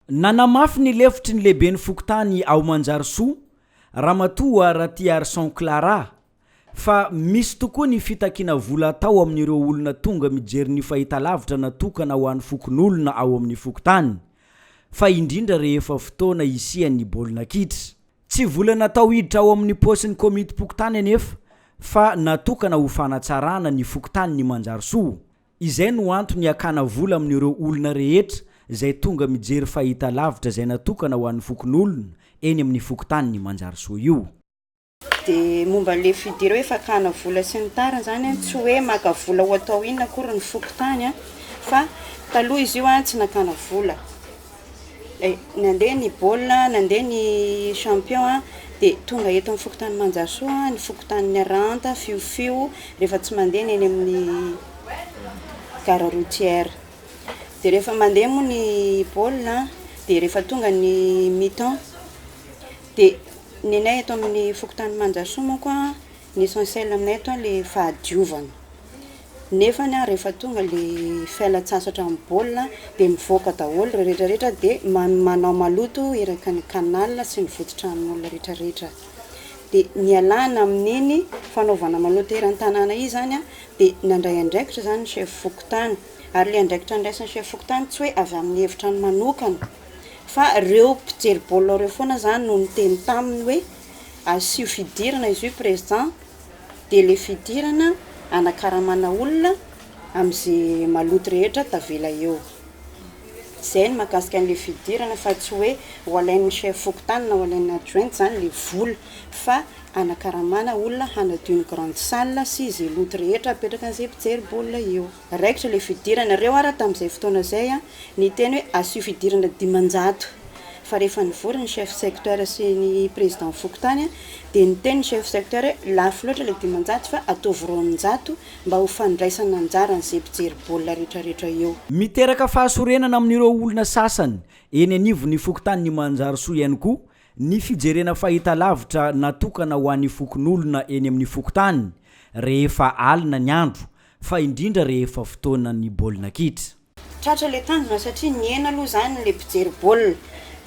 Nanamafy ny lefitry ny lehiben'ny fokontany ao Manjarisoa, Ramatoa Ratiarison Clara, fa misy tokoa ny fitakiana vola atao amin'ireo olona tonga mijery ny fahitalavitra natokana ho an'ny fokonolona ao amin'ny fokontany, fa indrindra rehefa fotoana hisian'ny baolina kitra. Tsy vola natao hiditra ao amin'ny paosin'ny komitim-pokontany anefa fa natokana ho fanatsarana ny fokontanin'i Manjarisoa, Izay no antony hakana vola amin'ireo olona rehetra izay tonga mijery fahitalavitra izay natokana ho an'ny fokonolona eny amin'ny fokontanin'i Manjarisoa io. Dia momba ilay fidire hoe fakana vola sy ny tariny izany, tsy hoe maka vola ho atao inona akory ny fokontany fa taloha izy io tsy nakana vola. Nandeha ny baolina, nandeha ny champion a, dia tonga eto amin'ny fokontany Manjasoa, ny fokontany Niarahanta, Fiofio, rehefa tsy mandeha ny eny amin'ny gare routière. Dia rehefa mandeha moa ny baolina dia rehefa tonga ny mi-temps dia ny anay eto amin'ny fokontany Manjasoa manko a. Ny essentiel aminay ato ilay fahadiovana. Nefany an, rehefa tonga ilay fialan-tsasatra amin'ny baolina dia mivoaka daholo ireo rehetrarehetra dia manao maloto eraky ny canal sy ny vodin-tranon'olona rehetrarehetra. Dia nialana amin'iny fanaovana maloto eran-tanàna iny izany an, dia nandray andraikitra izany ny chef fokontany. Ary ilay andraikitra andraisan'ny chef fokontany tsy hoe avy amin'ny hevitrany manokana fa ireo mpijery baolina ireo foana izany no niteny taminy hoe asio fidirana izy io président de le fidirana anakaramana olona amze maloto rehetra tavela eo zay no makasika anle fidirana fa tsy oe ho alainy chef fokontany na ho alainy adjointe zany le vola fa anakaramana olona hanadio ny grande salle sy ze loto rehetra apetraka anze mpijery baolina eo. Raikitra ilay fidirana. Ireo ary tamin'izay fotoana izay niteny hoe asio fidirana dimanjato. Fa rehefa nivory ny chef secteur sy ny président fokontany dia niteny ny chef secteur hoe lafo loatra ilay dimanjato fa ataovy roanjato mba ho fandraisana anjara an'izay mpijery baolina rehetrarehetra eo. Miteraka fahasorenana amin'ireo olona sasany eny anivon'ny fokontanin'i Manjarisoa ihany koa ny fijerena fahitalavitra natokana ho an'ny fokonolona eny amin'ny fokontany rehefa alina ny andro Fa indrindra rehefa fotoana ny baolina kitra. Tratra ilay tanjona satria nihena aloha izany ilay mpijery baolina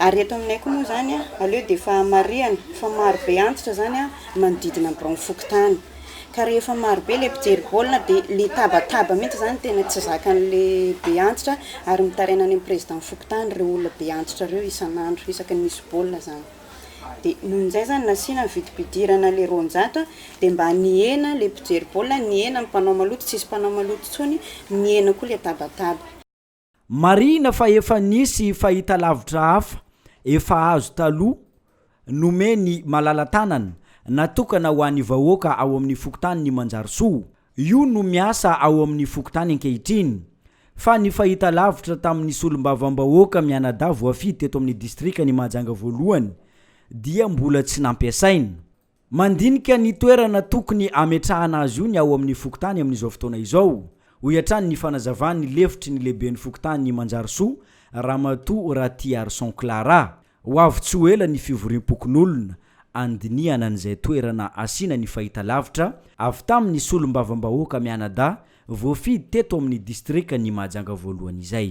ary eto aminay koa moa izany aleo dia efa marihana fa marobe antitra izany manodidina ny biraon'ny fokontany ka rehefa marobe ilay mpijery baolina dia ilay tabataba mihitsy izany tena tsy zakan'ilay be antitra ary mitaraina any amin'ny président fokontany ireo olona be antitra ireo isan'andro isaky ny misy baolina izany. Dia noho izay izany nasiana ny vidim-pidirana ilay roanjato dia mba nihena ilay mpijery baolina, nihena ny mpanao maloto, tsisy mpanao maloto intsony, nihena koa ilay tabataba. Marihina fa efa nisy fahitalavitra hafa efa azo taloha nomen'i Malala tanana natokana ho an'ny vahoaka ao amin'ny fokontanin'i Manjarisoa Io no miasa ao amin'ny fokontany ankehitriny, fa ny fahitalavitra tamin'ny solombavambahoaka mianadahy voafidy teto amin'ny distrikan'i Mahajanga voalohany dia mbola tsy nampiasaina. Mandinika ny toerana tokony hametrahana azy io ny ao amin'ny fokontany amin'izao fotoana izao, hoy hatrany ny fanazavan'ny lefitry ny lehiben'ny fokontany Manjarisoa, Ramatoa Ratiharison Clara. Ho avy tsy ho ela ny fivoriam-pokonolona handinihana an'izay toerana asiana ny fahitalavitra avy tamin'ny solombavambahoaka mianadahy voafidy teto amin'ny distrikan'i Mahajanga voalohany izay.